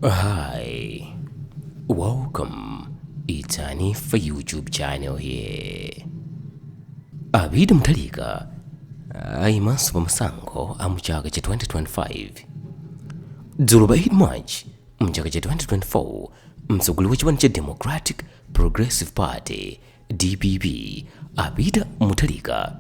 Hi, welcome. It's Hanifa YouTube channel here. A Peter Mutharika ayimanso pa masankho a mu chaka cha 2025 dzulo pa 8 march mu chaka cha 2024 mtsogoleri wa chipani cha democratic progressive party Dpp a Peter Mutharika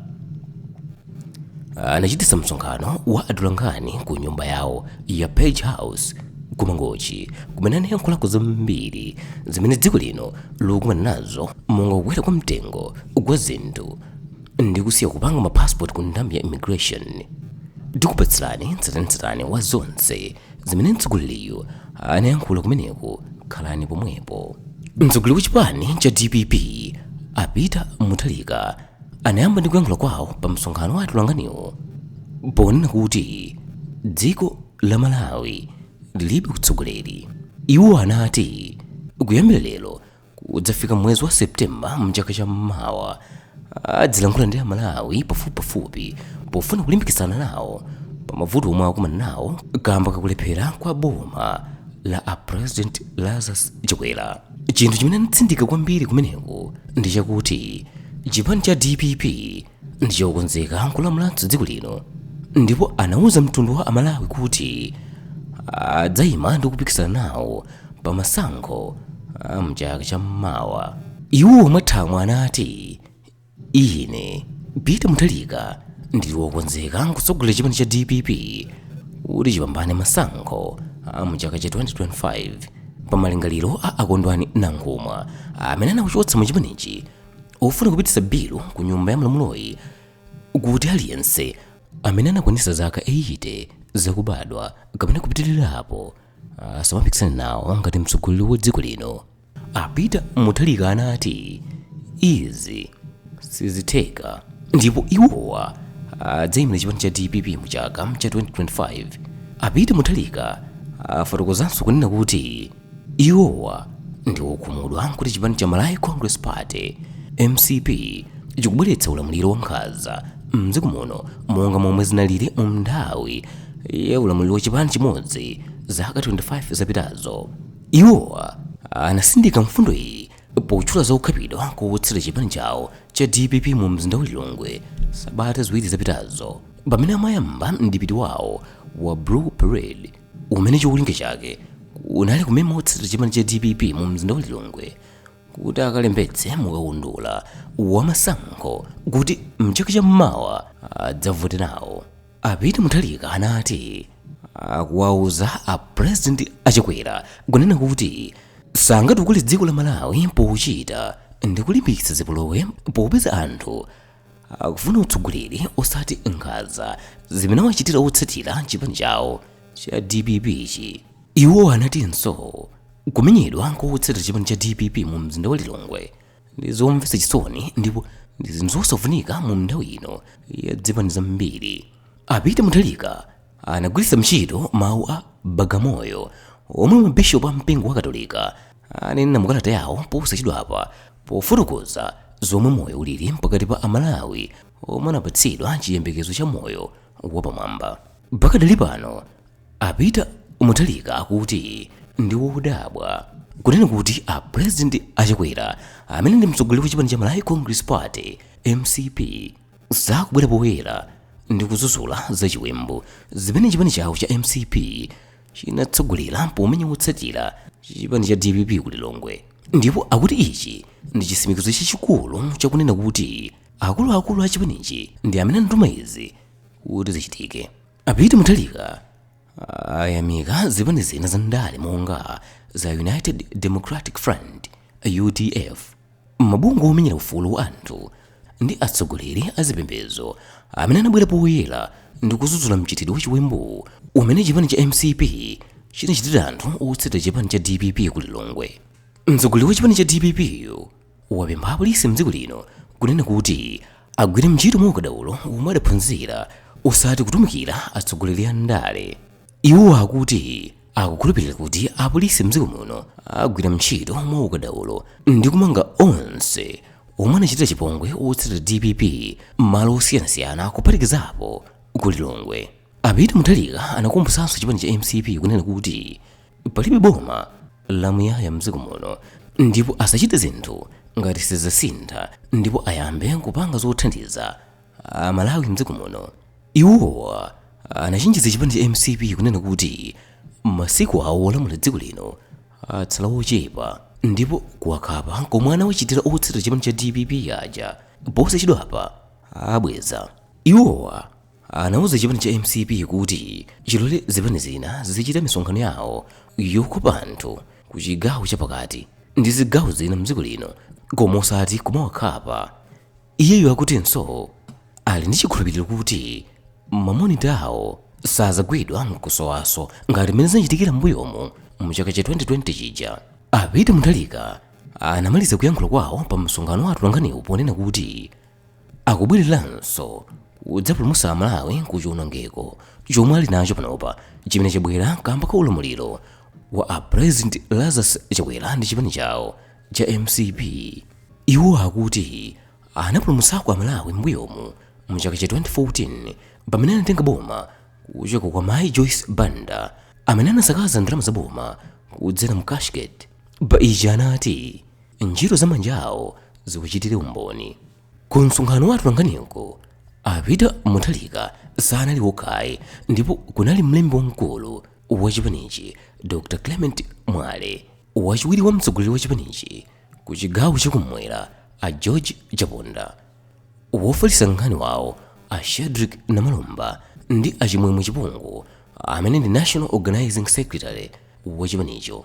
anachititsa msonkhano wa atolankhani ku nyumba yawo ya Page House ku Mangochi kumene anayankhulako zambiri zimene dziko lino likukumana nazo monga kukwera kwa mtengo kwa zinthu ndi kusiya kupanga mapasipoti ku nthambi ya immigration ndikupatsirani tsatanetsatane wa zonse zimene mtsogoleriyu anayankhula kumeneko khalani pomwepo mtsogoleri wa chipani cha dpp a peter mutharika anayamba ndi kuyankhula kwawo pa msonkhano wa atolankhaniwo ponena kuti dziko la malawi lilibe utsogoleri iwo anati kuyambira lero kudzafika mwezi wa september mchaka cha mmawa adzilankhula ndi amalawi pafupipafupi pofuna kulimbikitsana nawo pa mavuto omwe akumana nawo kamba kakulephera kwa boma la a president lazarus chakwera chinthu chimene anatsindika kwambiri kumeneko ndi chakuti chipani cha dpp ndi chokonzeka kulamulanso dziko lino ndipo anauza mtundu wa amalawi kuti adzayima ndi kupikisana nawo pa masankho a mchaka cha mmawa iwo mwathamwa anati ine peter mutharika ndili wokonzeka kutsogolera chipani cha dpp kuti chipambane masankho a mchaka cha 2025 pa malingaliro a a kondwani nankhumwa amene anawachotsa mu chipanichi ofuna kupititsa bilu ku nyumba ya malamuloyi kuti aliyense amene anakwanitsa zaka 80 zakubadwa kapena kupitirirapo asamapikisane nawo ngati mtsogoleri wa dziko lino a peter mutharika anati izi sizitheka ndipo iwowa adzayimira chipani cha dpp mu chaka cha 2025 a peter mutharika afotokozanso kunena kuti Iwowa ndi okhumudwa kuti chipani cha Malawi Congress Party, mcp, chikubweretsa ulamuliro wankhanza m'dziko muno monga momwe zinalili mu nthawi ya ulamuliro wa chipani chimodzi zaka 25 zapitazo. Iwowa anatsindika mfundo iyi potchula za kukhapidwa kwa otsatira chipani chawo cha dpp mu mzinda wa Lilongwe sabata ziwiri zapitazo pamene amayamba mdipiti wawo wa Blue Parade. umene cholinga chake unali kumema otsatira chipani cha dpp mu mzinda wa lilongwe kuti akalembetse mukaundula wa masankho kuti mchaka cha mmawa adzavote nawo a peter mutharika anati akuwauza a president a chakwera kunena kuti sangatukule dziko la malawi pochita ndi kulimbikitsa zipolowe popeza anthu akufuna utsogoleri osati nkhanza zimene wachitira otsatira chipani chawo cha dpp chi iwo anatinso kumenyedwa kwa otsatira chipani cha dpp mu mzinda wa lilongwe ndi zomvetsa chisoni ndipo ndi zinthu zosafunika mu nthawi ino ya zipani zambiri a peter mutharika anagwiritsa ntchito mawu a bagamoyo omwe mabishopu a mpingo wa katolika ananena mukalata yawo posachedwapa pofotokoza zomwe moyo ulili pakati pa amalawi omwe anapatsidwa chiyembekezo cha moyo wapamwamba pakadali pano a peter mutharika akuti ndi wodabwa kunena kuti a president a chakwera amene ndi mtsogoleri wa chipani cha malawi congress party mcp sakubwera poyera ndi kudzudzula zachiwembu zimene chipani chawo cha mcp chinatsogolera pomenya wotsatira chipani cha dpp ku lilongwe ndipo akuti ichi ndi chitsimikizo chachikulu chakunena kuti akuluakulu a chipanichi ndi amene anatuma izi kuti zichitike a peter mutharika ayamika zipani zina za ndale monga za united democratic front udf Mabungwe omenyera ufulu wa anthu ndi atsogoleri a zipembedzo amene anabwera poyera ndi kudzudzula mchitidwe wa chiwembuwu umene chipani cha mcp chinachitira anthu otsatira chipani cha dpp ku Lilongwe. Mtsogoleri wa chipani cha dpp yu wapempha apolisi mdziko lino kunena kuti agwire ntchito mwaukadaulo womwe adaphunzira osati kutumikira atsogoleri a ndale. Iwo akuti akukhulupirira kuti apolisi mdziko muno agwira ntchito mwaukadaulo ndi kumanga onse omwe anachitira chipongwe otsatira dpp m'malo osiyanasiyana kuphatikizapo ku Lilongwe. A Peter Mutharika anakumbutsanso chipani cha mcp kunena kuti palibe boma lamuyaya mdziko muno ndipo asachite zinthu ngati sizidzasintha ndipo ayambe kupanga zothandiza amalawi mdziko muno iwowa anachenjeza chipani cha mcp kunena kuti masiku awo olamula dziko lino atsala ochepa ndipo kuwakhapa komwe anawachitira otsatira chipani cha dpp aja posachedwapa abweza iwowa anauza chipani cha mcp kuti chilole zipani zina zizichita misonkhano yawo yokopa anthu ku chigawo chapakati ndi zigawo zina mdziko lino koma osati kumawakhapa Iyeyo akutinso ali ndi chikhulupiriro kuti mamonitawo sazagwidwa nkusowanso ngati mmene zinachitikira m'mbuyomu mu chaka cha 2020 chija. A Peter Mutharika anamaliza kuyankhula kwawo pa msonkhano wa atolankhaniwu ponena kuti akubwereranso kudzapulumutsa Amalawi ku chiwonongeko chomwe ali nacho panopa chimene chabwera kamba ka ulamuliro wa a President Lazarus Chakwera ndi chipani chawo. cha mcp iwo akuti anapulumutsako amalawi m'mbuyomu mu chaka cha 2014 pamene anatenga boma kuchoka kwa mayi joyce banda amene anasakaza ndalama za boma kudzera mu cashgate pa ichi anati ntchito za manja awo ziwachitire umboni ku msonkhano wa atolankhaniko a peter mutharika sanali okhayi ndipo kunali mlembi wamkulu wa chipanichi dr clement mwale Wachiwiri wa mtsogoleri wa chipanichi ku chigawo chakumwera a George Chaponda, wofalitsa nkhani wawo a Shadric Namalomba ndi a Chimwemwe Chipungu amene ndi National Organizing Secretary wa chipanicho.